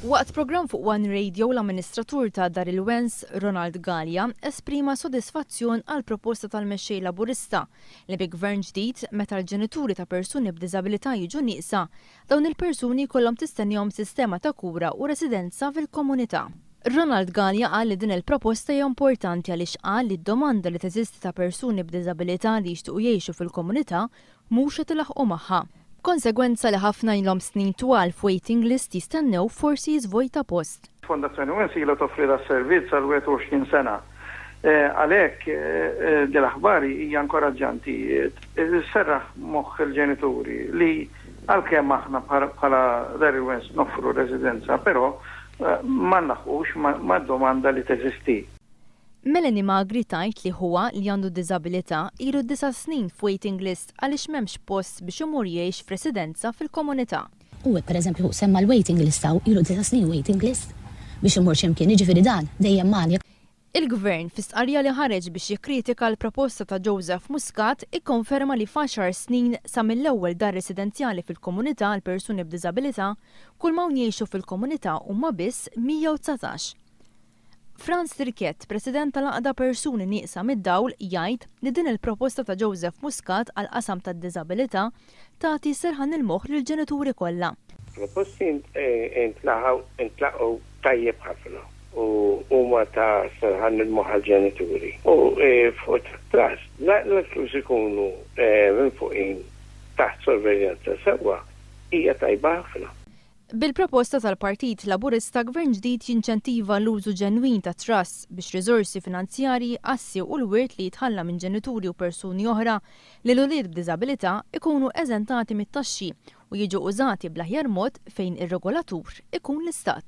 Waqt programm fuq one Radio l-amministratur ta' Dar il-Wens, Ronald Galea, esprima sodisfazzjon għall-proposta tal-Mexxej Laburista li bi Gvern ġdid, meta l-ġenituri ta' persuni b'diżabilità jiġu nieqsa, dawn il-persuni jkollhom tistennihom sistema ta' kura u residenza fil-komunità. Ronald Galea qal li din il-proposta hija importanti għaliex qal li d-domanda li teżisti ta' persuni b'diżabilità li jixtiequ jgħixu fil-komunità mhux qed ilaħħqu magħha, b'konsegwenza li ħafna ilhom snin twal f'waiting list jistennew forsi jiżvojta post. Fondazzjoni Wens ilha toffri das-servizz għal 21 sena. Għalhekk, din l-aħbar hija inkoraġġanti. Sserraħ moħħ il-ġenituri li għalkemm aħna bħala Dar il-Wens noffru residenza, però ma nlaħħqux mad-domanda li teżisti. Melanie Magri tgħid li ħuha li għandu diżabilità ilu disa' snin f'waiting list għaliex m'hemmx post biex imur jgħix f'residenza fil-komunità. U hekk pereżempju hu semma l-waiting list hawn ilu disa' snin waiting list biex imur xi mkien, jiġifieri dan dejjem magħni. Il-Gvern, fi stqarrija li ħareġ biex jikkritika l-proposta ta' Joseph Muscat, ikkonferma li f'għaxar snin sa mill-ewwel dar residenzjali fil-komunità għal persuni b'diżabilità, kulma hawn jgħixu fil-komunità huma biss 119. Franz Tirquet, President tal-Għaqda Persuni Nieqsa mid-Dawl, jgħid li din il-proposta ta' Joseph Muscat għall-qasam tad-diżabilità tagħti serħan il-moħħ lill-ġenituri kollha. Il-proposti ntlaqgħu tajjeb ħafna u huma ta' serħan il-moħħ għall-ġenituri u fuq it-trust l-itlus ikunu minfuqin taħt sorveljanza sewwa hija tajba ħafna. Bil-proposta tal-Partit Laburista Gvern ġdid jinċentiva l-użu ġenwin ta' trusts biex riżorsi finanzjarji, assi u l-wirt li jitħalla minn ġenituri u persuni oħra lil ulied b'diżabilità jkunu eżentati mit-taxxi u jiġu użati bl-aħjar mod fejn ir-regolatur ikun l-Istat.